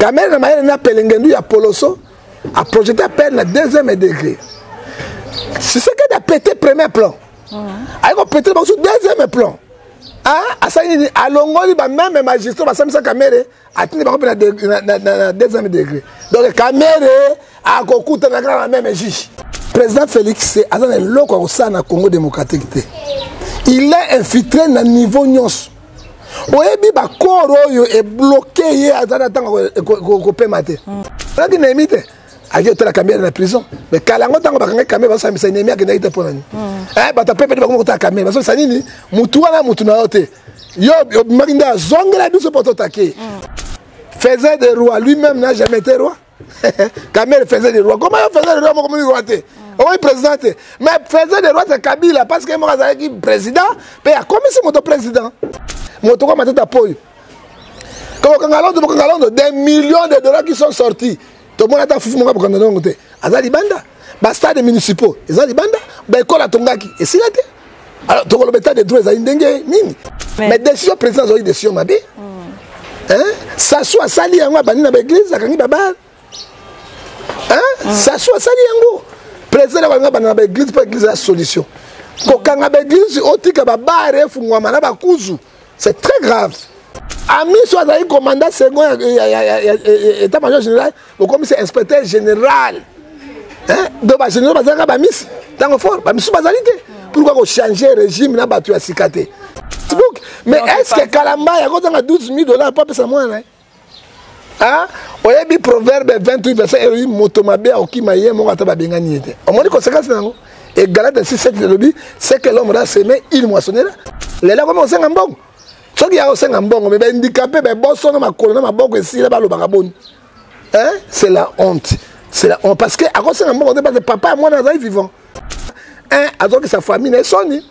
kamere na mayele na pelengendu ya poloso aprojete apele na deuxième degré sisekedi apete premier plan mm. aye kopete bakusu deuxième plan ah, asali nini alongoli bameme magistrat basambisa kamere atindi bango mpe na deuxième degré donc kamere akokutana kaka na meme juge président félix aza na eloko ya kosala na congo démocratique te il est infiltré na niveau nyonso oyebi bakoro oyo ebloke ye aza na ntango kopema te naki nayemi te ake otala kamere na prison mais kala yango ntango bakangaki kamere bazosambisa nemi akendaki te mpo na nini mm. eh, bato apepeli bakoma kotala kamere bazosambisa nini motu wana motu na yo te yo obimaki nde azongela biso mpo totake mm. faisait de roi lui-même n'a jamais été roi kamere faisait des rois comment yo faisait des rois moko moni roi te mm. okomi président te mais faisait des rois te kabila parce que ye moko azalaki président mpe akomisi moto président moto kwa matata po oyo kokanga londo bokanga londo des millions de dollars qui sont sortis tomoni ata fufu moko bokanga longo te aza libanda bastade municipaux eza libanda baekole atongaki esila te alors tokoloba etat de droit ezali ndenge nini mais décision président azwaki décision mabe mm. sasu asali yango abandi na baeglise akangi babale mm. sasu asali yango président na balinga banda na baeglise mpo eglise ya solution kokanga baeglise otika babare efungwama na bakuzu C'est très grave. Amiso azali commandant second ya, ya, ya, ya, ya état major général bokomisi inspecteur général hein? donc bagénéraux bazalaka bamisi ntango fort bamisusu bazali te pourquoi kochange régime na bato ya sika te mais est ce que kalamba yakozanga 12 000 dollars mpo apesa mwana Hein? oyebi proverbe 28 verset elobi moto mabe akokima ye moko ata babengani ye te omoni konsekansi na yango egalate 67 elobi ce que l'homme da seme il moissonnera lelo akomi kosenga mbongo soki ya kosenga mbongo me baindikape baboso na makolo na maboko esila balobaka boni hein? c'est la honte c'est la honte parce que akosenga mbongo te parce que papa ya mwana azali vivant hein? azokisa famille na ye soni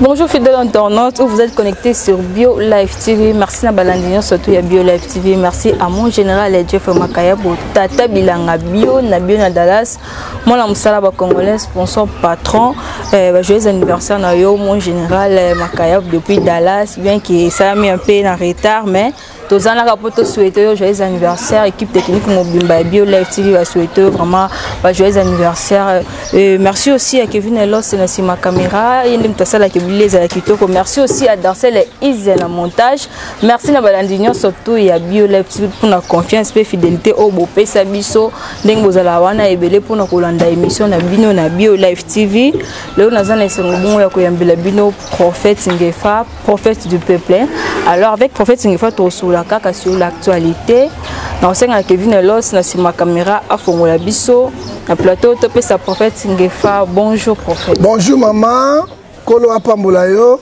Bonjour fidèle internaute, vous êtes connecté sur Bio Live TV. Merci na Balandinion, surtout à Bio Live TV. Merci à mon général Jeff Makayabo, Tata Bilanga Bio, na Bio na Dallas. Moi la musala ba congolais, sponsor patron. Eh, bah, joyeux anniversaire na yo mon général eh, Makayabo depuis Dallas, bien qu'il s'est mis un peu en retard mais tozalaka mpo tosouhaite yo joyeux anniversaire équipe technique mobimba ya bio live tv basouhaite yo vraiment ba joyeux anniversaire euh, merci aussi ya kevin elos na nsima caméra ye nde moto asalaka ebili ezala kitoko merci aussi ya dancel ya ise na montage merci na balandi nyonso to ya bio live tv mpona confiance mpe fidélité oyo bopesa biso ndenge bozalaka wana ebele mpona kolanda émission na bino na bio live tv lelo naza na esengo bongo ya koyambela bino prophète ngefa prophète du peuple alors avec prophète ngefa tokosola kaka sur l'actualité na kosenga kevin elos na nsima kamera afongola biso na plateau topesa prophète ngefa bonjour prophète bonjour mama nkolo apambola yo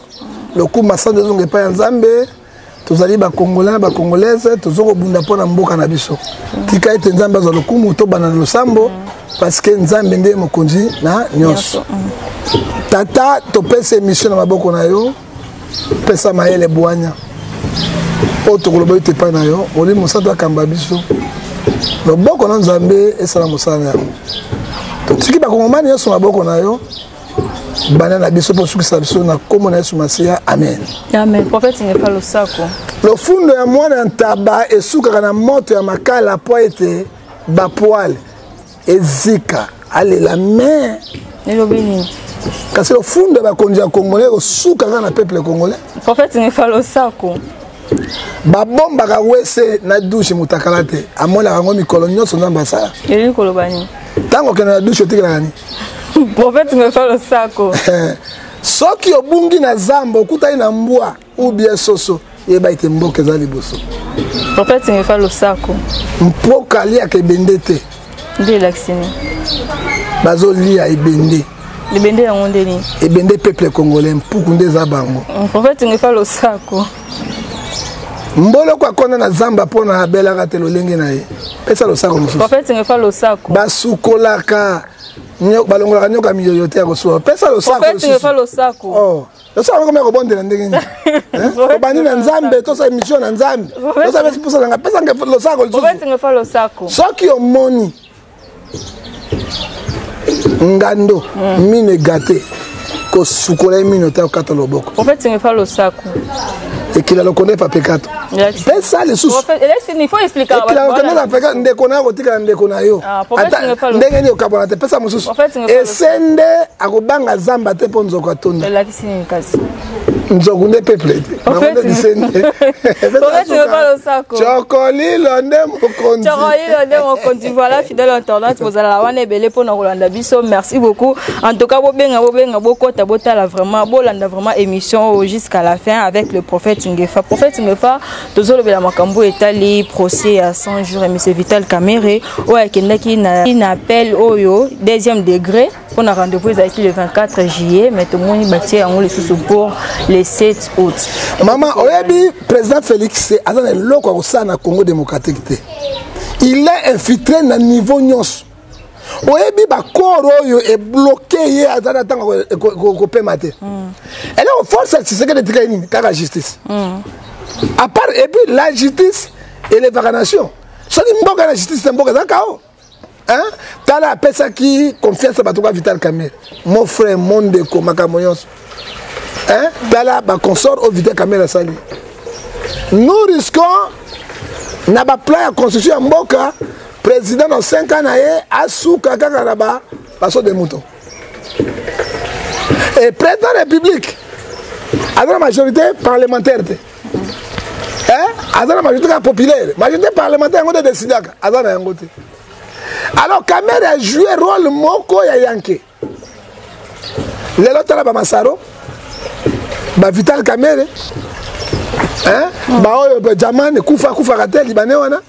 lokumba sanjo ezonga epai ya nzambe tozali bakongolais na bakongolaise toza kobunda mpo na mboka na biso tika ete nzambe azwa lokumu tobanda na losambo mm. parce que nzambe nde mokonzi na nyonso tata topesa émission na maboko na yo pesa mayele bwanya oyo tokoloba ete epai na yo molimo mosantu akamba biso loboko na nzambe esala mosala na yango totiki bakongomani nyonso maboko na yo bana na biso mpo osukisa biso na nkombo na yesu masiya amen amen profete ngefa losako lofundo ya mwana ya ntaba esukaka na moto ya makala mpo ete bapoile ezika alela me elobi nini kasi lofundo ya bakonzi ya congolais ekosuka kaka na peuple congolais prophète ngefa losako babombaka wese na dushe motakala te amonaka yango mikolo nyonso nzambe asala elingi koloba nini ntango okenda na dushe otikelaka nini prophète ngefa losako soki obungi na zamba okutani na mbwa ou bien soso yeba ete mboka eza liboso mpoka etingika losako mpoka aliaka ebende te nde elakisi nini bazolia ebende ebende yango nde nini ebende peuple congolais mpuku nde eza bango mpoka etingika losako mboloko akona na zamba mpo na abelaka te lolenge na ye pesa losako mosusu basukolaka balongolaka nyoka miyoyo te ya kosuka pesa losako tosala komi ya kobondela ndenge nini tobandi na nzambe tosala émission na nzambe tosala pesi mposa na ngai pesa nge losako lisusu soki omoni ngando hmm. mino egate kosukola ye mino te okata loboko ekila lokondo epa pekato pesa lisusuekilaokonela peka ndeko na yo akotikala ndeko na yo ah, ndenge nini okabwana te pesa mosusu ese nde akobanga zamba te mpo nzoko atonda nzoku nde peuple te bango nde biseni cokolilo nde mokonzi cokolilo nde mokonzi voilà fidèle internaute bozalala wana ebele mpo na kolanda biso merci beaucoup en tout cas bobenga bobenga bokota botala vraiment bolanda vraiment émission jusqu'à la fin avec le prophète ngefa prophète ngefa tozolobela makambo etali procès ya 100 jours ya monsieur vital camere oyo akendaki na, na appel oyo deuxième degré mpo na rendez-vous ezalaki le 24 juillet mais tomoni batie yango lisusu pour le 7 août mama oyebi président félix aza na eloko ya kosala na congo démocratique te il est infiltré na niveau nyonso oyebi bakoro oyo ebloke ye aza na ntango kopema te mm. eloko force ya tshisekedi etikali nini kaka justice mm. apart epuis la justice elevaka nation soki mboka na justice te mboka eza kao tala apesaki confiance ya bato ka vital camere mon frère mon ndeko makambo nyonso hein? tala baconsort oyo vita kamere asali nous risquons na baplan ya constitution ya mboka président na 5 ans na ye asuka kaka na baso de mouton e président ya république aza na majorité parlementaire te aza na majorité kaka populaire majorité parlementaire yango nde décidaka aza na yango te alors kamere a joue rôle moko ya yanke lelo tala bamasaro bavital kamere baoyo jaman ekufa akufaka te libane wana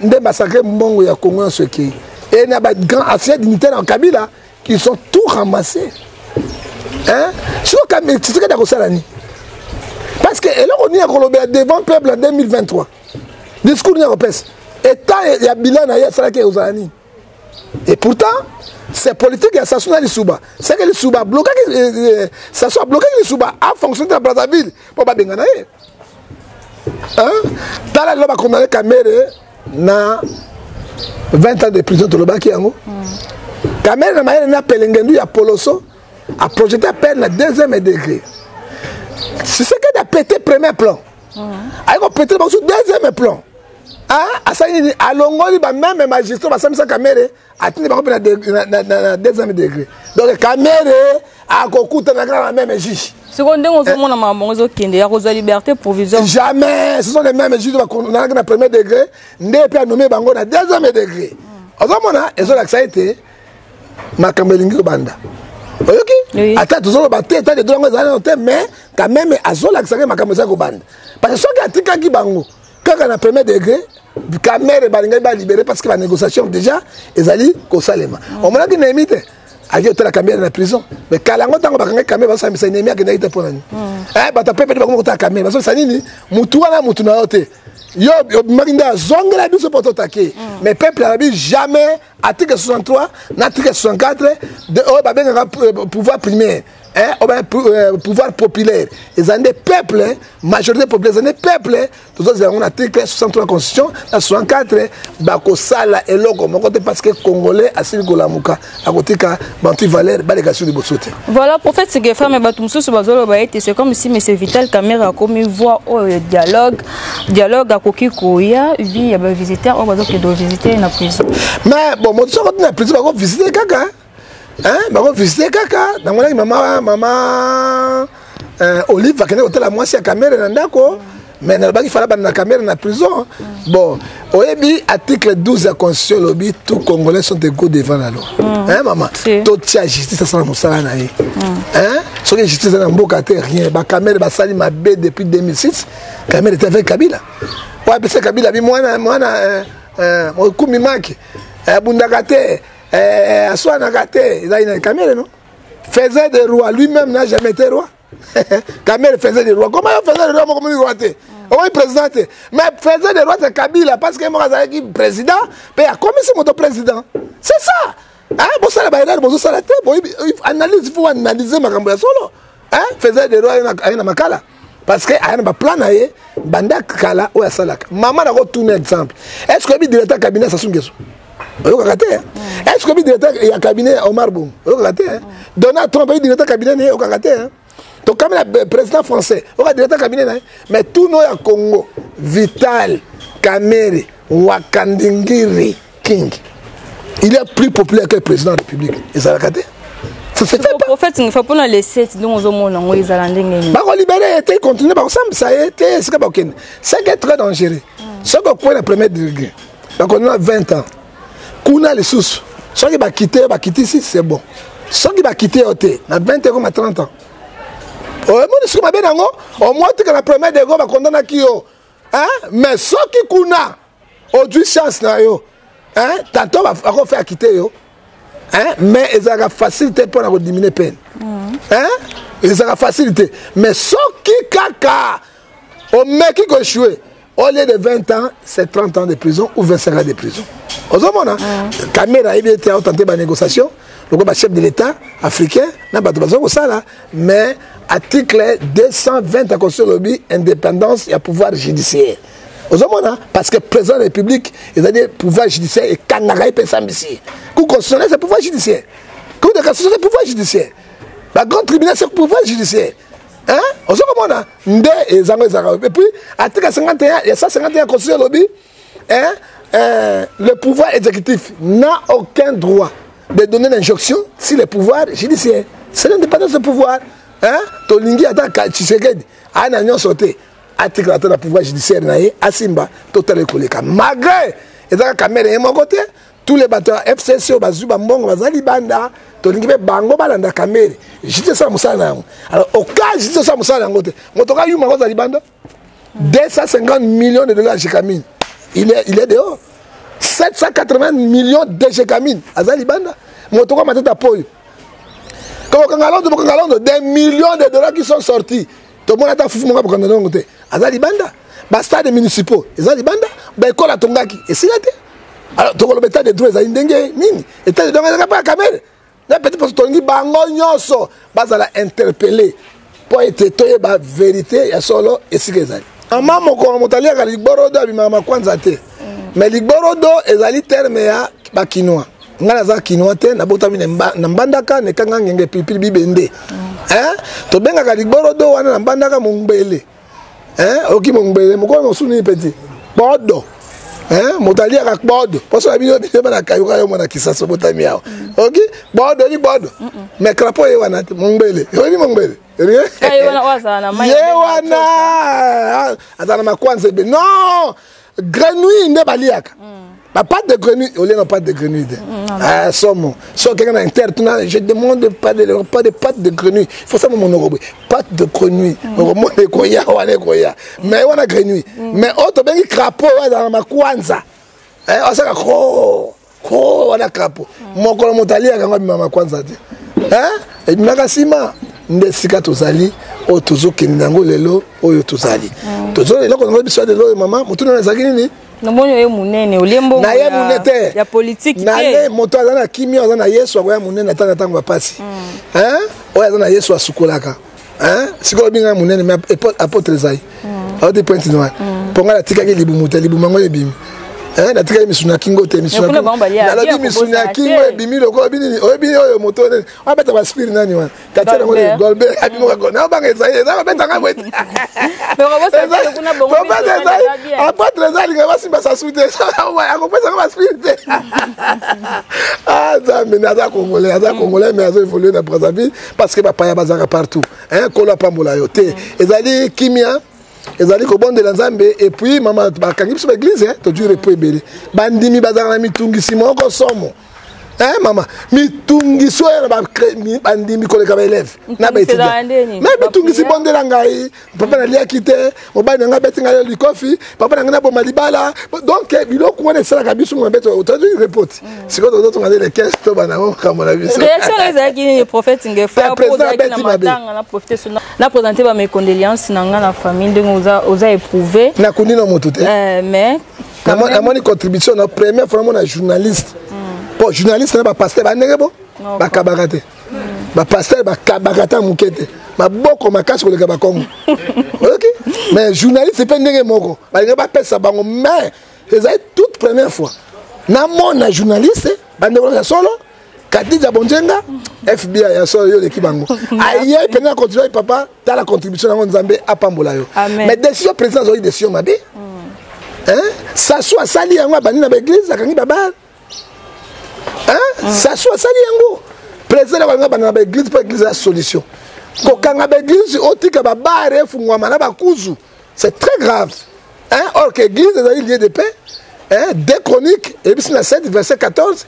nde basakre mbongo ya kongo nyonso ekei et na bagrand ancien dignitaire ya kabila qui sont tout ramassés siko tshisekedi akosala nini parce que eloko nini akolobela devant peuple en 2023 discours nini akopesa etat ya bilan na ye asalaki ekozala nini Et pourtant, c'est politique ya Sassou na Lissouba. C'est que Lissouba a bloqué, euh, euh, Sassou a bloqué Lissouba a fonctionné dans Brazzaville. Pour pas bengana ye. Hein? Tala loba condamné Kamere na 20 ans de prison to loba kiango. Kamere na mayele na pelengendu ya Poloso a projeté peine na deuxième degré. C'est ce que a pété premier plan. aye kopetre bango su deuxième plan asali nini alongoli bameme magistrat basambisa kamere atindi bango mpe na deuxième degré donc kamere akokutana kaka na meme juge sikoyo ndenge ozomona eh. makambo yango ezokende ya kozwa liberté provisoire jamais ce sont les mêmes juge bakonanaki na premier degré nde mpe anome bango na deuxième degré ozomona ezolakisa ete makambo elingi kobanda oyoki oui. ata tozoloba te etake to yango ezali nano te mais quand même azolakisaka makambo ezali kobanda parce que soki atikaki bango kaka na premier degré kamere balingaki balibere parce que banégociation déjà ezali kosalema mm. omonaki nemi te aye otala kamere na prison mais kala yango ntango bakangaki kamere bazosambisa nemi akendaki te mpo na nini mm. eh, bato apepete bakomi kotala kamere bazosambisa nini motu wana motu na yo te yo obimaki nde azongela biso mpo totake mm. mais peuple alobi jamais article 63 na article 64 de oyo babengaka euh, pouvoir primaire eh, oyo ba euh, pouvoir populaire eza nde peuple majorité populaire eza nde peuple tozozela yango na article 63 constitution na 64 bakosala eloko moko te parce que congolais asili kolamuka akotika bantu valeur baleka biso liboso te voilà prophète segefa me bato mosusu bazoloba ete c'est comme si monsieur vital camera akomi voix oyo ya dialogue dialogue akoki koya vi ya bavisiteur oyo bazokende ovisite na prison mais bon moto soko na prison bakovisite kaka bakovisite kaka namonaki mama mama Euh, olive akende kotala mwasi ya kamere na ndako me nalobaki fala banda na kamere na prison bon oyebi article 12 ya constitution elobi tout congolais sont égaux devant la loi mm. hein, mama totia justice asala mosala na ye mm. hein? soki justice eza na mboka te rien bakamere basali mabe depuis 2006 kamere te avec kabila oyo apesa kabila bi mwana mwana euh, euh, okumi maki abundaka te aswanaka te ezali na kamere no faisait des rois lui-même n'a jamais été roi Kamel faisait des rois comment il faisait des rois moko moni roi te okomi président te mais faisait des rois c'est Kabila parce que moko azalaki président mpe akomisi moto président c'est ça hein bosala baerreur bozosala te analyse faut analyse makambo ya solo hein faisait des rois aye na makala parce que aya na baplan na ye banda kala oyo asalaka mama nakotuna exemple est ce que oyebi directeur cabinet sasu ngeso oyokaka te mm. est ce que oyebi directeur ya cabinet ya omar bom oyokaka te mm. donald trump oyebi directeur cabinet na ye oyokaka te tokami na euh, président français oyoka directeur cabinet na ye mais tuno ya congo vital kamere wakandingiri king il y a plus populaire que le président de la république ezalaka te prophète ngefa mpo na lesete ndenge ozomona yango ezala ndenge nini bakolibere ye te continue bakosambisa ye te esika bakokende seke très dangereux hmm. soki okwei na premier degré bakonona 20 ans kuna lisusu soki bakite yo bakitisi c'est bon soki bakite yo te na 20 ekoma 30 ans omoni soki mabe na yango omwa tika na premier degré bakondanaki yo mais soki kuna ojui chance na yo hein? tanto akofe akite yo hein? mais ezalaka facile te mpo na kodiminue peine mm. hein? ezalaka facile te mais soki kaka omeki kochoue au lieu de 20 ans c'est 30 ans de prison ou 25 ans de prison ozomona mm. kamera ayebi ete aotante banégociation lokola bachef de l'état africain na bato baza kosala mais article 220 ya constitution lobi indépendance ya pouvoir judiciaire ozomona parce que président de la république ezali pouvoir judiciaire ekangaka ye mpe esambisi ye cour constitutionnel c'est pouvoir judiciaire cour de cassation c'est pouvoir judiciaire la grande tribunal c'est pouvoir judiciaire hein ozo komona nde ezango ezalaka et puis article 51 ya 151 constitution elobi hein euh, le pouvoir exécutif n'a aucun droit de donner l'injonction si le pouvoir judiciaire c'est l'indépendance de pouvoir hein tolingi ata tshisekedi aya na nyonso te atikala ata na pouvoir judiciaire na ye asimba totala ekoleka malgré eza kaka mere ye moko te tous les bato ya fcc oyo bazwi bambongo baza libanda tolingi mpe bango balanda kamere jite osala mosala na yango alors oka jite osala mosala na yango te moto oka yuma kozala libanda 250 millions de dollars jekamine il est, il est dehors 780 millions de jekamine aza libanda moto oka matata po oyo kokanga londo bokanga londo des millions de dollars qui sont sortis tomoni ata fufu moko abokanda na yango te aza libanda bastade municipaux eza libanda baekole atongaki esila te alors tokoloba etat de droit ezali ndenge nini etat de droit ezalaka mpe ya kamere na petit poso tolingi bango nyonso bazala interpelle mpo ete toyeba verité ya solo esika ezali mama mokolo moto aliaka ligborodo abimaka makwanza te mais ligborodo ezali terme ya bakinois ngai naza kinois te nabotami na mbandaka nekanga ngenge pilipili bibende mm. tobengaka ligborodo wana na mbandaka mongbele oki mongbele mokolo mosusu nini peti bodo moto aliaka bodo mposo na bino bino banakayuka yo mwana kisaso botami awa mm. oki bodo ni bodo mais crapo ye wana te mongbele oyini mongbele ye wana azala na makwanza ebe non grenouille nde baliaka ba pâte de grenouille au lieu na pâte de grenouille te ah somo so keke na inter tuna je demande pas de pas de pâte de grenouille faut ça mon noko pâte de grenouille noko mon ko ya wana ko ya mais wana grenouille mais auto bengi crapaud wana na makwanza eh asaka ko oh, wana kapo mokolo moto aliyaka yango abimaka kwanza te ebimaka nsima nde esika tozali oyo tozokende na yango lelo oyo tozali mm. tozoli eloko yango biso ya lelo oyo mama motuna na ezalaki nini namoni oye monene olie mbongo na ye monene te ya politiki na ye moto aza na kimia aza na yesu akoya monene ata na ntango ya mpasi mm. oyo aza na yesu asukolaka hein sikoyo obi ngai monene mais apotre ezai mm. aote pointe noire mm. mpo ngai natikaki libumu te libumu yango ebimi eh, natikaki misuni ya kingo te misunalobi misuni ya kingo ebimi lokola binini oyebi oyo moto nene abeta baspire nani wana katia yango nini golbert abimoka gol na obanga ezali eza kobeta ngai boye obeta ezali apotre eza alinga basimba sasu te akopesa ngo baspire te ah, nzambe aza congolais aza congolais mais azo évolue na brazzaville parce que bapaya bazalaka partout hein, kolo apambola yo te ezali kimia ezali kobondela nzambe epuis mama bakangi biso baeglize eh, tojure epo ebele bandimi bazalaka na mitungisi moko somo eh mama mitungisi oyo na bandimi koleka baeleve na baetudiant me mitungisi bondela ngai papa naliaki te mobali na ngai abeti ngai likofi papa na ngai naboma libala donc eh, biloko wana esalaka biso mabe otandi repoti mm. sikoyo tozo tonga nde lekes to banango makambo na biso reaction ezalaki nini prophète ngefaprésident abeti mabe na présente ba mes condoléances na ngai na famille ndenge oza éprouvé nakundi na moto te eh, mais namoni contribution na première fois namona journaliste mpo mm. journaliste na bapaster bandenge bo bakabaka te ba pasteur ba kabaka ta mukete maboko makasi koleka ba kongo oyoki mais journaliste pe ndenge moko balinga bapesa bango mais ezali toute première fois namona journaliste bandeko ya solo kadija bonjenga fbi ya solo yo oleki bango aye mpenza na continue papa tala contribution yango nzambe apambola yo mais décision président azwaki décision mabe hmm. sasu asali yango abandi na baeglise akangi babale hein sasu asali yango président na balinga banda na baeglise mpo eglise ya solution kokanga baeglise otika babare efungwama na bakuzu c'est très grave hein or que église ezali lieu de paix hein de chronique eyebisi na 7 verset 14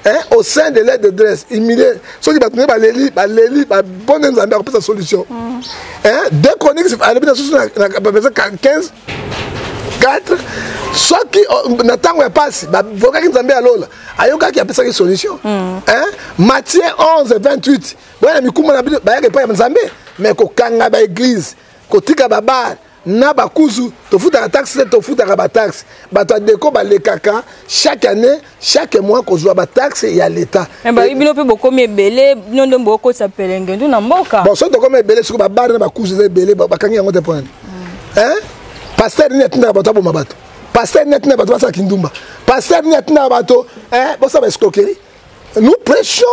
hein, au sein de l'aide de dresse humilié soki bato nde baleli baleli babone nzambe akopesa solution mm. hein, de chronique alobi na susu na verset 15 4 soki oh, na ntango ya mpasi bavokaki nzambe ya lola ayokaki apesaki solution mm. matie 11 28 boya na mikumba na bino bayaka epai ya nzambe me kokanga baeglize kotika babare na bakuzu tofutaka taxe te tofutaka bataxe bato ya deko balekaka chaque année chaque mois kozwa ba taxe ya leta eh, bayi bino mpe bokomi ebele bino nde bokotisa pelengendu na mboka bon soki tokomi ebele soki babare na bakuzi eza ebele bakangi yango te mpo nani hmm. paster nini atindaka bato aboma bato paster nini atindaka bato basala kindumba paster nini atindaka bato bosala ba escroquerie nous prêchons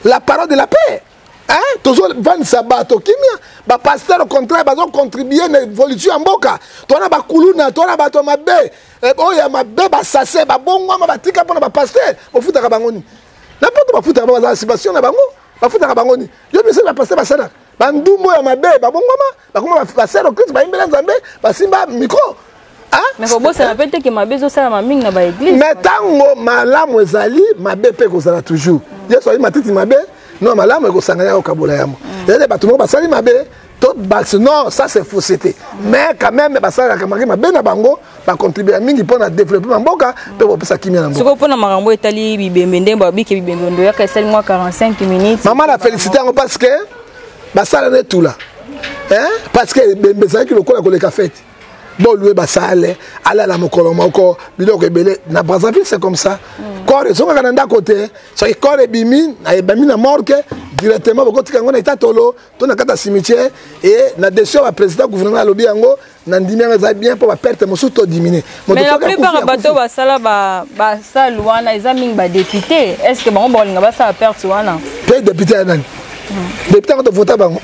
la parole de la paix Hein? Tozo vanisa bato kimia ba pasteur au contraire bazo contribuer na évolution ya mboka tona ba kuluna tona bato mabe eh, oyo ya mabe ba sase ba bongwama ba tika pona ba pasteur bofutaka bango ni na poto bafutaka baza subvention na bango bafutaka bango ni yo biso ba pasteur basalaka ba ndumbo ya mabe ba bongwama bakoma basero krist bayimbela nzambe basimba mikro nakobosana mpe te ke mabe ezosalama mingi na baeglise me ntango malamu ezali mabe mpe ekozala toujours yesu ali matiti mabe no malamu ekosangana ya kokabola yango mm. ezali bato moko basali mabe to basi non ça c'est fausseté mais quand même basalaka maki mabe na bango bacontribua mingi mpo na développe na mboka mpe kopesa kimia na mboka mpo na makambo etali bibembe ndenge babike bibembe ndoyaka esali mwa 45 minutes mama na félicité yango parce que basala na etula eh? parce que ebembe ezalaki lokola koleka fete bolue basale alala mokolo moko biloko ebele na brazzaville c'est comme ça mm. corps ezongaka na ndako te soki corps ebimi ebami na morke directement bokotika yango na etatolo to na kata cimetière e na desio ya baprésident gouvernement alobi yango na ndimi yango eza bien mpo baperte mosusu to diminue mais la plupart ya bato basala basale wana eza mingi badepute est ce que bango bakolinga basala perte wana mpe depute ya nani hmm. depute yango tovota bango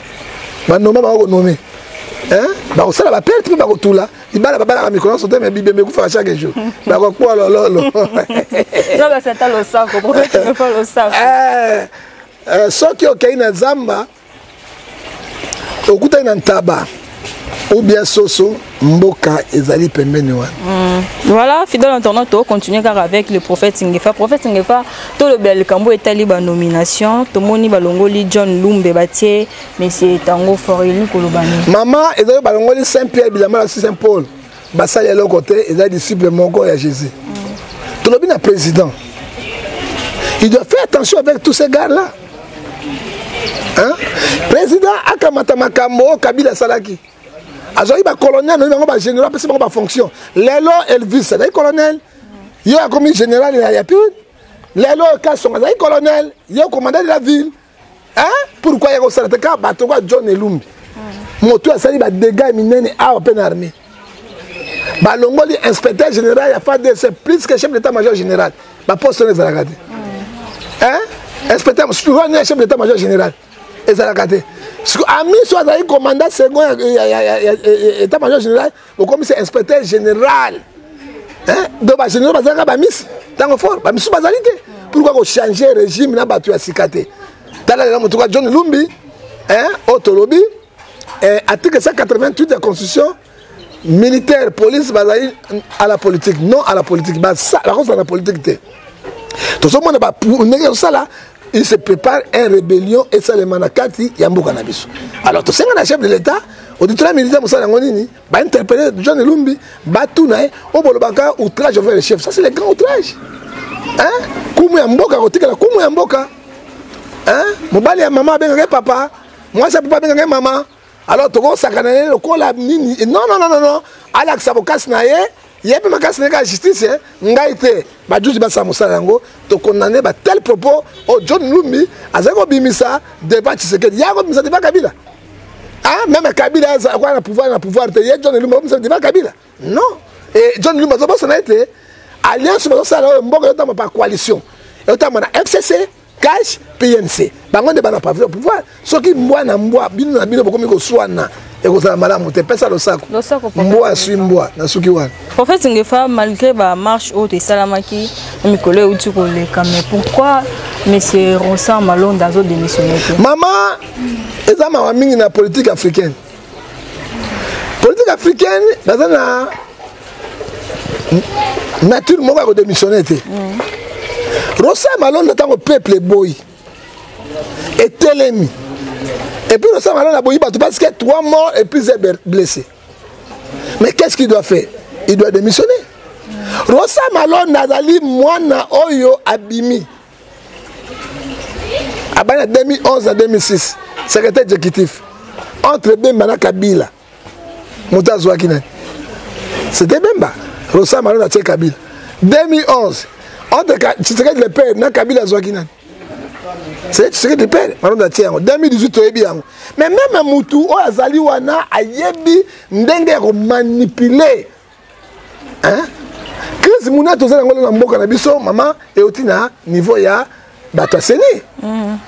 banoma bango konome bakosala baperte mpe bakotula libala babalaka mikolo nyonso te me bibembe ekufaka chaque jour bakokua lololo soki okei na zamba okutani na ntaba ou bien soso mboka ezali pembeni wana mm. voilà fidèle internaute tokocontinue kaka avec le prophète ngefa prophète ngefa tolobela likambo etali banomination tomoni balongoli john lumbe batie monsieur tango foreli koloba nini mama ezali balongoli saint pierre bilama na saint paul basali eloko te eza disciple moko ya jésus tolobi na président il doit faire attention avec tous ces gars là hein? président akamata makambo oyo kabila asalaki azwaki bacolonel noyi bango bagénéral apesi bango bafonction lelo elvis azali colonel yo akomi général ya yapine lelo kasonga azali colonel yo commandant de la ville hein pourquoi yako sala te ka bato kwa John Elumbi moto asali ba dégâts minene awa pe na armée balongoli inspecteur général ya FADC plus que chef d'état major général ba poste wana ezalaka te hein inspecteur mosusu wana ya chef d'état major général ezalaka te ami so azali commandant second ya état major général bokomisa inspecteur général do bagénéraux bazalaka bamisi ntango fort bamisusu bazali te pourkoi kochange régime na bato ya sika te tala lela motuka john lumbi oyo tolobi eh, article 188 ya constitution militaire police bazali à la politique non à la politique bakozala na politique te tozomona ndenge ezosala il se prépare un rébellion esalema na kati ya mboka na biso alors tosenga na chef de l'état auditorat militaire mosala yango nini bainterpele john elumbi batuna ye oyo bolobaka outrage envers le chef ça c'est le grand outrage hein? kumu ya mboka kotikala kumu ya mboka hein? mobali ya mama abengaka ye papa mwasi ya papa abengaka ye mama alors tokosakana ye lokola nini non non non non alakisa bokasi na ye ye mpe makasi na ye kaka justice eh? ngai te bajuzi basala mosala yango tokondane batele propos oyo john lumbi azali kobimisa devant tshisekedi ye akobimisa devant kabila ah, meme kabila akoya na pouvoir na pouvoir te ye john lumbi akobimisa devant kabila non e john lumba azobosana ete alliance bazosala oyo mboka ezotamba par coalition ezotamba na fcc cash pnc bango nde bana pavile pouvoir soki mbwa na mbwa bino na bino bokomi koswana ekozala malamu te pesa losako mbwa aswi mbwa nasuki wana prophète ngefa malgré bamarche oyo esalamaki na mikolo euti koleka mais pourquoi monsieur rosan malonda azodémissionne te mama eza mawa mingi na politique africaine politique africaine baza na nature moko ya kodémissionne te mm. rosa malonda ntango peuple eboyi etelemi epuis rosa malonda aboyi bato parce que trois morts et plusieurs blessés mais qu'est ce qu'il doit faire il doit démissionner rosa malonda azali mwana oyo abimi abandi na 2011 na 2006 secrétaire exécutif entre bemba na kabila moto azwaki nani c'était bemba rosa malona atie kabila 2011 entre tshisekedi le père na kabila azwaki nani tshisekedi pere malonda atie yango 2018 toyebi yango mais meme mutu oyo azali wana ayebi ndenge ya komanipule hein crise monene toza yango na mboka na biso mama euti na niveau ya bato ya seni mm.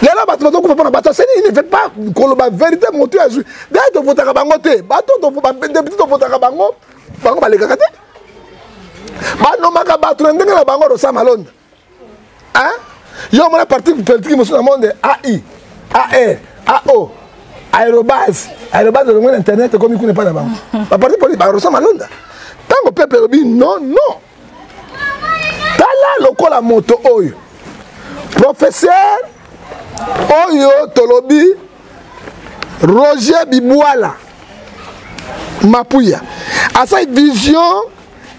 lelo bato bazokufa mpona bato ya seni il ne fait pas koloba verité motu ya zwi dai tovotaka bango te bato badepute tovotaka bango bango balekaka te banomaka bato na ndenge na bango rosama londa yo omona parti politique mosusu na monde ai ae ao aérobase aérobase olongo na internet ekomi kuna epai na bango baparti politi barosa malonda ntango pepe elobi non non tala lokola moto oyo professeur oyo tolobi roger bibwala mapuya asali vision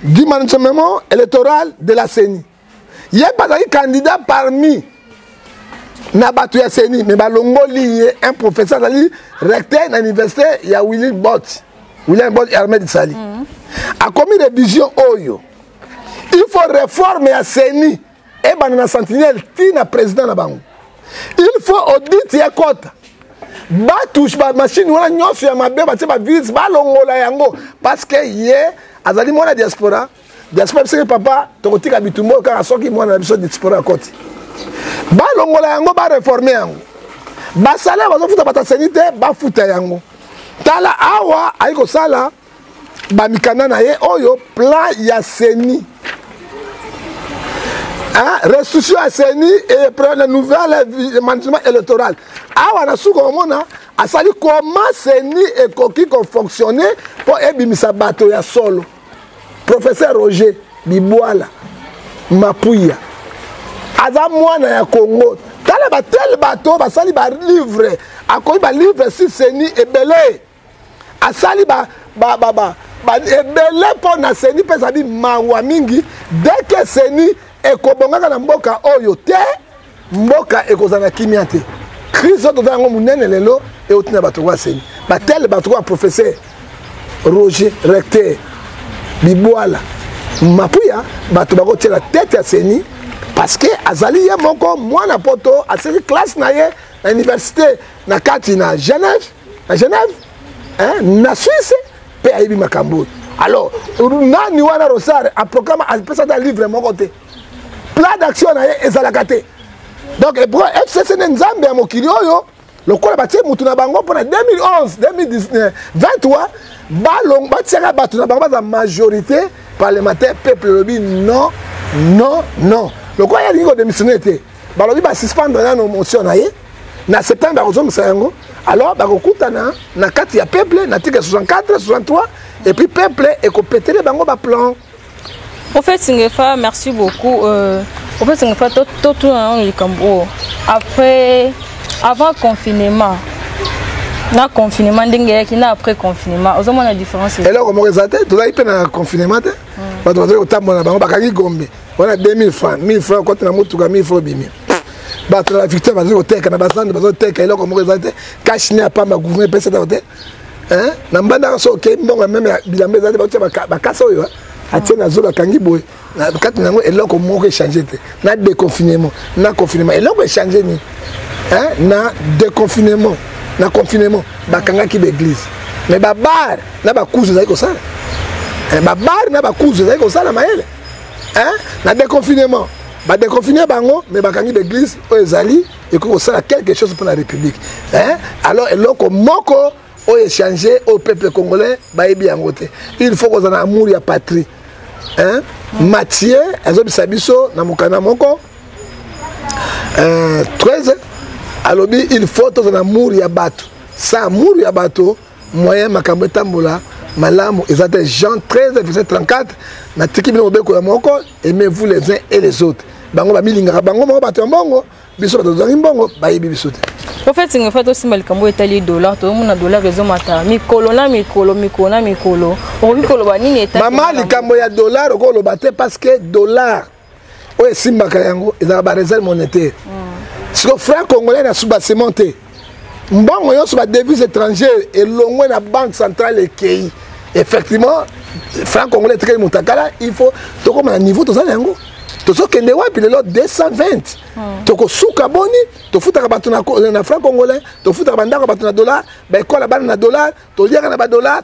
du management électoral de la CENI. Il y a pas de candidat parmi na bato ya CENI, mais balongoli ye un professeur azali recteur na université ya Willy Bott, William Bott Ahmed Sali. Mm -hmm. Akomi révision oyo. Il faut réforme ya CENI. ebanda na sentinelle ti na président na bango il faut audit ya kota batouche bamashine wana nyonso ya mabe batie bavirus balongola yango parce que ye azali mwana diaspora diaspora biseke papa tokotika bitumba oyo kaka soki mwana na biso diaspora akoti balongola yango bareforme yango basalaire bazofuta bataseni te bafuta yango tala awa ayi kosala ba mikanda na ye oyo plan ya CENI hein, restitution ya CENI et plan de nouvelle management électoral awa na suka omona asali comment CENI ekoki ko fonctionner mpo ebimisa bato ya solo professeur Roger Bibwala Mapuya aza mwana ya Congo tala batele bato basali balivre akomi balivre si CENI ebele asali ba ba ba ba ebele mpo na seni mpe ezali mawa mingi deke seni ekobongaka na mboka oyo te mboka ekozala na kimia te crise oyo toza yango monene lelo euti na bato kwa seni batele bato kwa professeur roger recteur bibwala mapuya bato bakotiela tete ya seni parce que azali ye moko mwana poto asili classe na ye na université na kati na genève na genève hein, na suisse mpe ayebi makambo oyo alors nani wana rosar aprocama apesa ata livre moko te plan d'action na ye ezalaka te donc ebro fcc nde nzambe ya mokili oyo lokola batie motu na bango mpona 2011 2023 balong batiaka bato na bango baza majorité parlementaire peuple elobi non non non lokola ye alingi kodémissionne te balobi basuspendre nano motion na ye na septembre bakozongisa yango alors bakokutana na kati ya peuple na tika 64 63 et puis peuple ekopetele bango baplan au fait singefa merci beaucoup euh, au fait singefa totuna nano likambo oyo après avant confinement na confinement ndenge eyaki na après confinement ozomona différence eloko moko eza te tozalaki mpe na confinement te hmm. bato bazali kotambola na bango bakangi gombe wana 2000 franc 1000 franc okoti na motuka 1000 franc obimi bato na bavictoire bazali koteka na bazando bazali koteka eloko moko ezali te kashi ne apamba gouvernement epesi atako te na mbandaka so okei mbongo ya meme ya bilamba ezali te baotya bakasa oyo atie na zolo akangi boye kati na yango eloko moko echange te na déconfinement na confinement eloko echange nini na déconfinement na confinement bakangaki baeglise mais babare na bakuzu ezali kosala eh, babare na bakuzu ezali kosala mayele hein? na déconfinement badeconfine bango mais bakangi baeglise oyo ezali ekoki kosala quelque chose mpo na république hein? alors eloko moko oyo echange oyo peuple congolais bayebi yango te il faut kozala na amour ya patrie hein? mathieu azobisa biso na mokanda moko euh, 13 alobi il faut tozala na amour ya bato sa amour ya bato moyen makambo etambola malamu eza te jean 13 verset 34 natiki bino mobeko ya moko aimez vous les uns et les autres bango bamilingaka bango moko bato ya mbongo biso bato tozangi mbongo bayebi biso te ofeti ngai fa tosimba likambo etali dollar tozomona dollar ezomata mikolo na mikolo mikolo na mikolo okoki koloba nini etali mama likambo ya dollar okoloba te parce que dollar oyo esimbaka yango ezalaka bareserve monétaire mm. siko franc congolais na subasement te mbongo nyonso badevise étrangère elongwe na banque centrale ekei effectivement franc congolais etikali motakala il faut tokóma na niveau toza na yango tozokende wapi lelo 220 hmm. tokosuka boni tofutaka bato na franc congolais tofutaka bandako ya bato na dollar baekola bana na dollar toliaka na badollar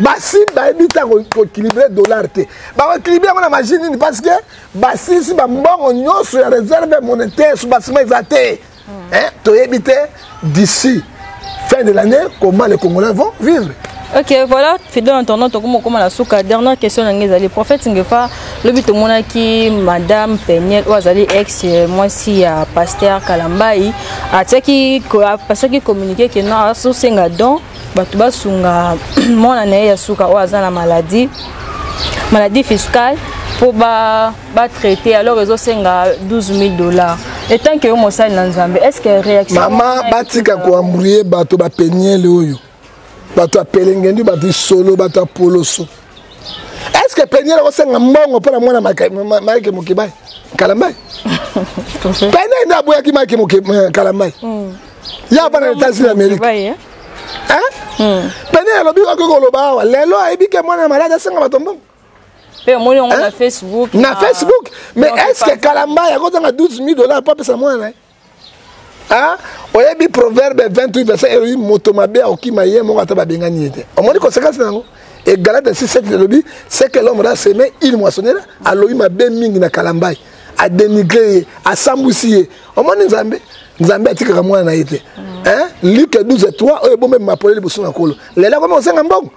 basimba yebi ta koéquilibre dollar te bakoéquilibre yango na magie nini parce que basilisi bambongo nyonso ya réserve monétaire so basima eza te toyebi te d'ici fin de l'année comment les congolais vont vivre Ok, voilà, Fido, en tournant, tu comme la souka. Dernière question, le prophète Ngefa, le but au monaki, madame Peniel, ou azali ex, euh, moi si à euh, pasteur Kalambaï, a teki, a passé qui communiqué que non, à sous singa don. bato basunga mwana na ye ya suka oyo aza na maladie maladie fiscale mpo batraite ba alors ezosenga 12 000 dollars etant ke yo mosali na nzambe est ce que réaction mama batika koambrouye bato bapeniele oyo bato ya pelenge nde bato isolo bato ya poloso est ce que peniel akosenga mbongo mpo na mwana maike mokebai kalambai peniel nde aboyaki maike eh, kalambai hmm. ya bana etats unis amerika eh? hmm. peniel alobi okoki koloba awa lelo ayebi ke mwana ya maladi asenga bato mbongo mpe omoni yango na facebook na facebook mais est ce que kalambai akozanga 12 000 dollars mpo apesa mwana na ye Hein? oyebi proverbe 28 verset elobi moto mabe akokima ye moko ata babengani ye te omoni konsekansi na yango e galate 67 elobi ce que l'homme a semé il moissonnera alobi mabe mingi na kalambai adenigre ye asambwisi ye omoni nzambe nzambe atikaka mwana na ye te luke 12 3 oyo ebombe mapole liboso na nkolo lelo akomi kosenga mbongo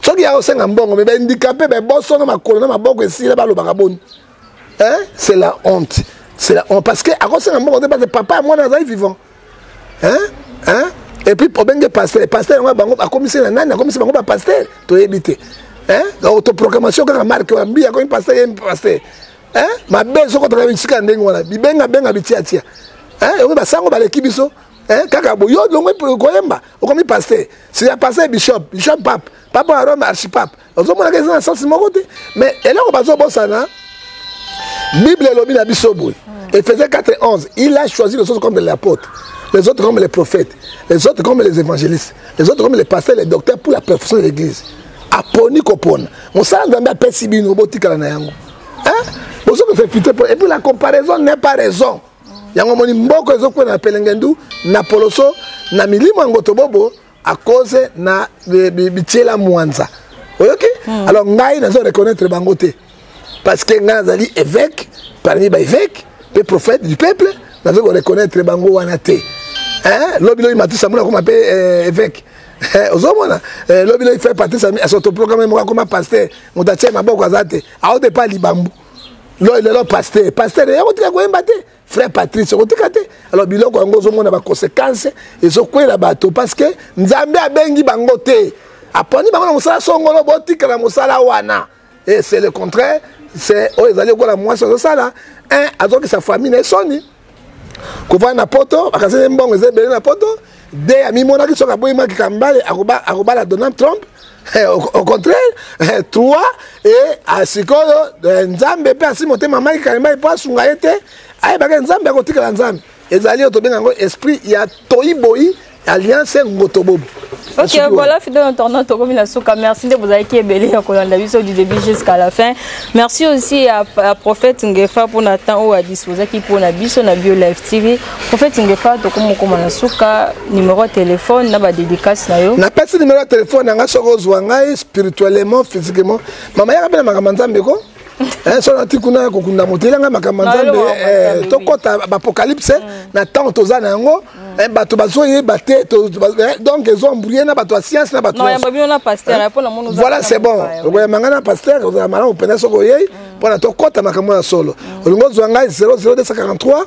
soki ya kosenga mbongo me baindikape babosono makolo na maboko esila balobaka boni hein c'est la honte c'est la honte parce que akosenga mbongo te parce que papa ya mwana azali vivant hein hein et puis obenge pasteur pasteur yango bango akomisi na nani akomisi bango ba pasteur toyebi te hein autoproclamation kaka marke wa mbi akomi pasteur ye pasteur hein mabe soko tokaka bisika ya ndenge wana bibenga benga bitiatia hein yango basango baleki biso hein kaka bo yo longo koyemba okomi pasteur si ya pasteur bishop bishop pape pape wa rome archipape ozomonaka eza na sense moko te mais eloko bazobosana bible elobi na biso boye efese 4 11 il a choisi les autres comme les apôtres les autres comme les prophètes les autres comme les évangélistes les autres comme les pasteurs les docteurs pour la perfection de l'église aponi kopona mosala nzambe apesi bino botikala na yango bozo kosepite po epuis la comparaison n'est pas raison yango omoni mboko ezokwela na pelengendu na poloso na milimo yango tobobo à cause na bitiela mwanza oyoki hmm. alors ngai nazo reconnaître bango te parce que ngai nazali évêque parmi ba évêque mpe prophète du peuple nazo ko reconnaître bango wana te hein lobi lobi matisa mona koma mpe euh, évêque eh, ozomona eh, lobi lobi fait patisa asotoprograme moko akoma pasteur moto atie maboko aza te aote pa libambu lelo pasteur pasteur yakotika koyemba te frère patrice okotika te alors biloko yango ozomona baconséquence ezokwela bato parce que nzambe abengi bango te aponi bango na mosala songolo botikala mosala wana et c'est le contraire c'est oyo ezali lokola mwasi azosala un azokisa famille na ye soni kovanda na poto akasani mbongo eza ebele na poto de amimonaki soki aboyi maki kambale akobala donald trump eh, au contraire eh, trois e ah, sikoyo eh, nzambe mpe asi motema maki kambale mpo asunga ye te ayebaka ah, nzambe akotikala nzambe ezali oyo tobenga yango esprit ya toyi boyi alliance ngotobobo ok voilà fidèle internaute tokomi na suka merci nde bozalaki ebele ya kolanda biso du début jusqu'à la fin merci aussi à, à prophète ngefa mpona temps oyo adisposaki mpona biso na bio live tv Prophète Ngefa tokomokoma na suka numéro ya téléphone na ba dédicace na yo. Napesi numéro ya téléphone na ngai soki ozwa ngai spirituellement physiquement. Mama yaka mpe na makambo ya Nzambe ko eh, so nati kuna kokunda moto eyela ngai makambo ya Nzambe eh, tokɔta baapocalypse mm. na ntango toza na yango mm. eh, bato bazoyeba te donc ezo embrouille na bato ya science na bato voilà c'est bon okoyamba ngai na pasteur ozala malamu mpenza soki oyei mm. mpo na tokɔta makambo ya solo olingi ozwa ngai 00243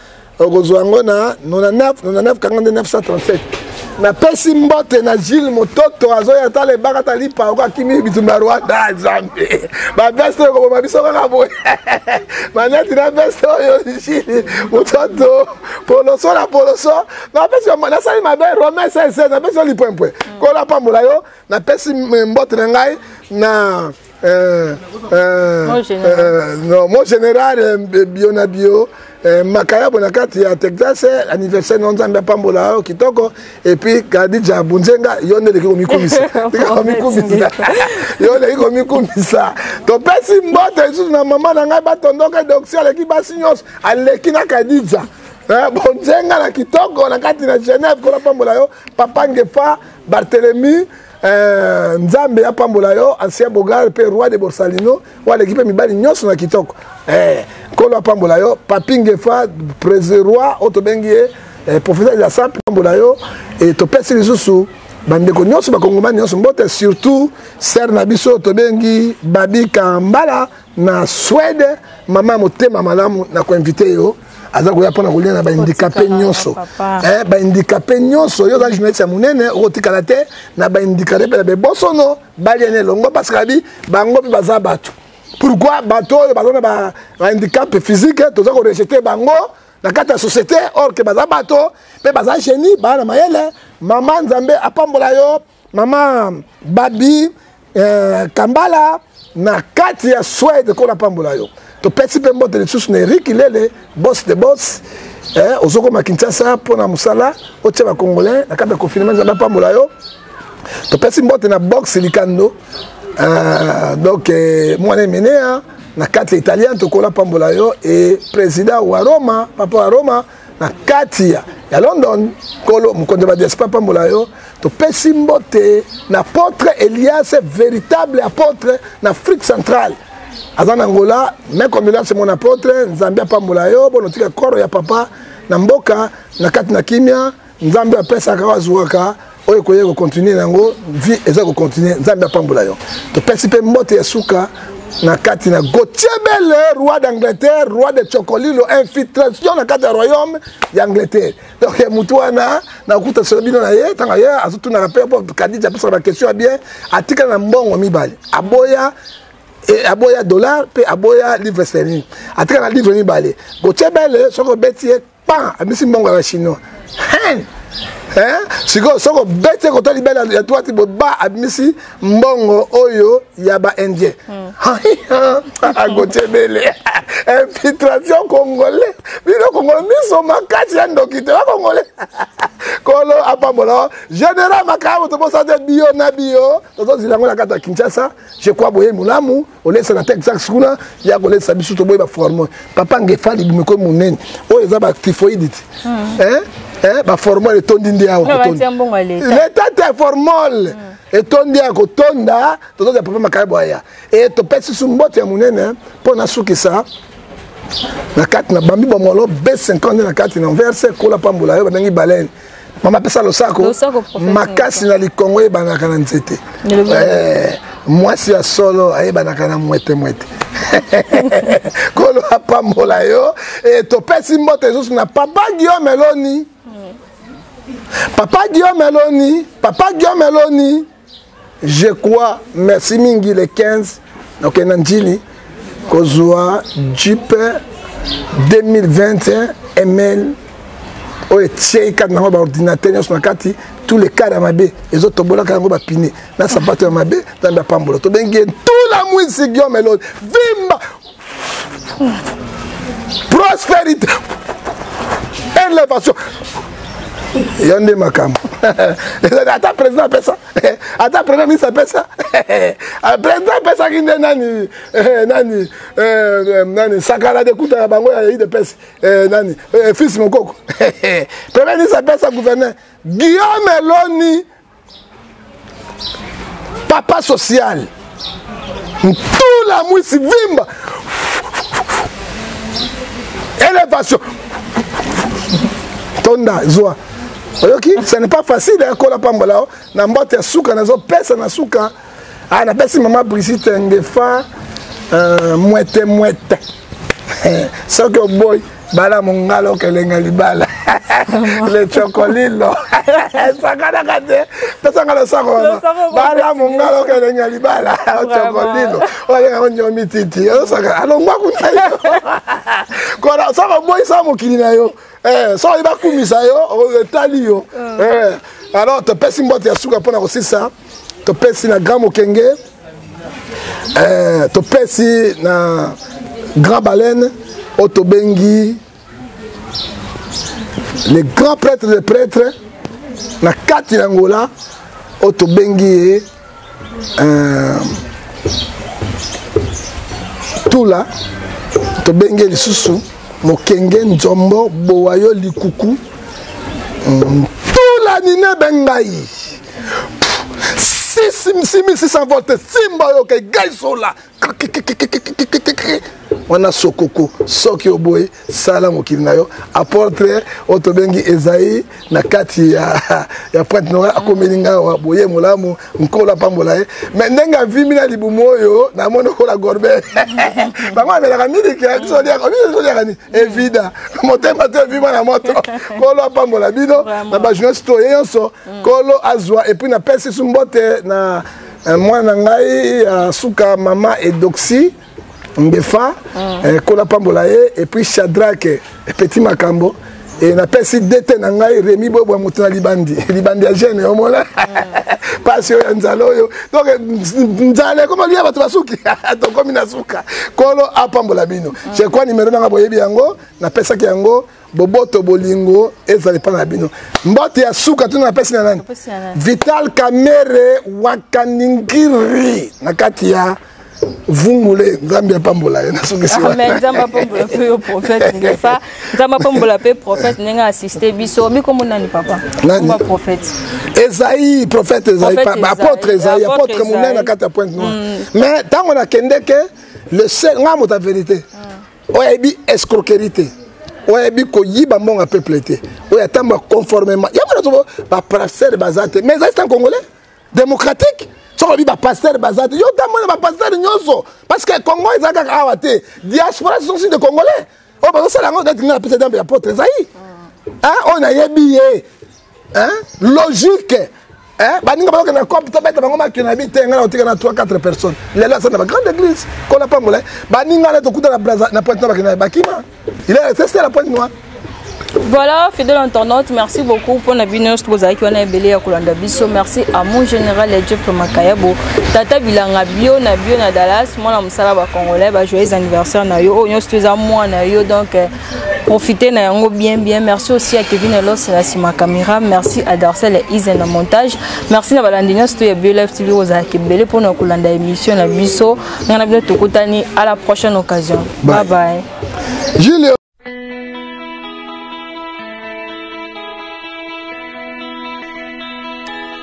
okozwa yango na 99 99 kanga nde 937 napesi mbote na gile mototo azoya tala ebaka tali paoko akimi bitumba rwanda ah, zambe baveste oyo koboma biso kaka boye maneti na veste oyo gile mototo poloso na poloso napesi nasali mabe rome sese napesi yo lipwempwe kola pambola yo napesi mbote na ngai na Euh, euh, mon général, euh, non, mon général euh, bio na bio euh, makayabo na kati ya texas euh, anniversaire na nzambe apambola yo kitoko epuis kadija bunzenga yo nde eleki komikumisa komikumisa yo eleki komikumisa topesi mbote lisusu na mama na ngai batondoka doxi aleki basi nyonso aleki na kadija Eh, bonzenga na kitoko na kati na genève kona pambola yo papa ngefa barthelemy Eh, nzambe apambola yo ancien bogar mpe roi de borsalino oyo aleki mpe mibali nyonso na kitoko eh, nkolo apambola yo papi ngefa roi oyo tobengi ye eh, professeur ya sampe apambola yo eh, topesi lisusu bandeko nyonso bakongomani nyonso mbote surtout ser na biso tobengi babi kambala na swede mama motema malamu na koinvite yo aza koya mpona kolia na baindikape nyonso eh, baindikape nyonso yo oza journaliste ya monene okotikala te na baindikape mpe na bebosono balia na elongo parce que abi bango mpe baza bato pourquoi bato oyo baza na baindikape physique toza korejete bango na kati ya société or ke baza bato mpe baza génie baa na mayele mama nzambe apambola yo mama babi eh, kambala na kati ya swede ko napambola yo topesi mpe mbote lisusu na erik lele bos de bos eh, ozokoma kinshasa mpo na mosala otya bacongolais na kati ya confinement nzambe apambola yo topesi mbote na box likando eh, donc eh, mwana emenea na kati ya italien tokola pambola yo e president wa roma papa wa roma na kati ya, ya london nkolo mokonzi ya badiaspora apambola yo topesi mbote na apotre elias véritable apotre na afrique centrale aza na ngola me combilance mon apotre nzambe apambola yo bonotika koro ya papa na mboka na kati na kimia nzambe apesaka oyo azuwaka oyo ekoya kocontinue na yango vie eza kocontinue nzambe apambola yo topesi mpe mbote ya suka na kati na gotiebele roi d'angleterre roi de chocolilo infiltration na kati ya royaume ya angleterre donc ya motu wana nakuta solo bino na ye ntango ye azotunaka mpe po kadija apesaka baquestion ya bien atikala na mbongo mibale aboya e, aboya dollar mpe aboya livre sterling atikala na livre mibale gotiebele soki obeti ye pa abisi mbongo ya ba chinois hein hein sikoyo soko bete kota libela ya twati boba abimisi mbongo oyo ya ba indien hmm. agotie bele infiltration congolais bino congolais miso makasi ya ndoki te bacongolais kolo apambola général makambo tobosate bio na bio tozozila yango na kati ya kinshasa je crois boye molamu olesa na texas kuna ya kolesa biso toboyi baforme papa ngefa libumu ekomi monene oyo eza batifoide ti hmm. eh, eh, baformol etondi nde awa leta te formol hmm. etondi ya kotonda tozozya papa makaya bwaya e topesi su mbote ya monene mpo nasukisa na kati na bambi bomolo b50 nde na kati na verse kola pambola yo babengi balene mama pesa losako makasi na likongo eyebanaka na nzete eh, mwasi ya solo ayebanaka na mwete mwete kolo apambola yo e, topesi mbote esusu na papa guillaume eloni papa guillaume eloni papa guillaume eloni je crois merci mingi le 15 nakokende na njili kozwa jipe 2021 ml oyo etiei kati nango baordinateur nyonso na kati tous les cas ya mabe ezotobolaka yango bapine na sapato ya mabe nzambe apambola tobengi ye ntula mwisi giome eloi vimba prosperité elevation yo nde makambo ata président apesa ata premier ministre apesa ah, président apesaki nde nani eh, nani eh, nani sakala de kuta ya bango ya idps eh, nani fils mokoko premier ministre apesa gouverneur guillaume eloni papa social ntula mwisi vimba elevation tonda zwa oyoki ce n'est pas facile ekola pambola na mbote ya suka nazopesa na suka ah napesi mama brigitte ngefa euh, mwete mwete soki oboyi bala mongala okelenga libala le chocolilo esakanaka te tosanga losako wana bala mongala okelenga libala chocolilo olenga konyomi titi osaka alongwa kuna yo kona soko oboyisa mokili na yo eh, soki bakumisa yo etali yo eh, alors topesi mbote ya suka mpo na kosisa topesi na grand mokenge eh, topesi na grand baleine oyo tobengi le grand prêtre de prêtre na kati na ngola oyo tobengi ye eh, tula tobengi ye lisusu mokenge nzombo bowayo likuku mm, tula ninebe ngai 6600 volts simba yo ke gaisola wana sokoko soki oboyi sala mokili na yo aportre oyo tobengi ezai na kati ya, ya printe nora akomeli ngai awa boye molamu nkolo apambola ye me ndenge avimi na libumu oyo namoni okola gorbe bango amelaka miliki bisooliaka nini evida motema te evima na moto nkolo apambola bino na bajournaliste oyo ye nyonso kolo azwa epuis napesi su mbote na eh, mwana ngai ya suka mama edoxi ngefa mm. eh, kola pambola ye epuis chadrake epeti makambo e napesi dete na ngai remi bobwa moto na libandi libandi ya gene omona mpasi oyo ya nzala oyo donc nzala ekoma lia bato basuki tokomi na suka kolo apambola bino je crois nimero nanga boyebi yango napesaki yango boboto bolingo ezala epai na bino mbote ya suka tuna napesi na nani vital kamere wakaningiri na kati ya vungule nzambe apambola ye nasukisiwanzambe apambola mpe yo prophète ngefa nzambe apambola mpe prophète ndenge asiste biso bikombo nani papa komba prophète ezai prophète ezai apôtre ezai apôtre monene na kati ya pointe noire mais ntango nakendeke le sel ngai moto ya verité mm. oyo ayebi escroquerie te oyo ayebi koyiba mbongo ya peuple te oyo atamba conformément yango nazo baprasere baza te mais ezali tan congolais démocratique soki olobi bapastere baza te yo otambola na bapastere nyonso parce que congo eza kaka awa te diaspora ce sont aussi de congolais oyo bazosala yango neti nga napesa dambe ya potre ezai oyo nayebi ye hein? logique hein? baninga bayoka na cope tobeta bango makio na bi te ngai nakotika na 3 4 personnes lelo aza na bagrande église kola pambola baninga na tokuta na braza na pointe na bakenda bakima il est resté sur la pointe noire Voilà, fidèle entendante, merci beaucoup pour la binos que vous avez eu belé à Kolanda Bisso. Merci à mon général et Jeff Makayabo. Tata Bilanga Bio, na Bio, na Dallas. Moi, la Moussala, ba Congolais, ba joyeux anniversaire, na yo. Oh, nous, tous à moi, na yo. Donc, euh, profiter na yango bien bien merci aussi à Kevin Elos na sima camera merci à Darcel et Isen na montage merci na balandi nyonso to ya Bio Live TV ozala kebele mpo na kolanda émission na biso ngai na bino tokutani à la prochaine occasion bye bye, bye.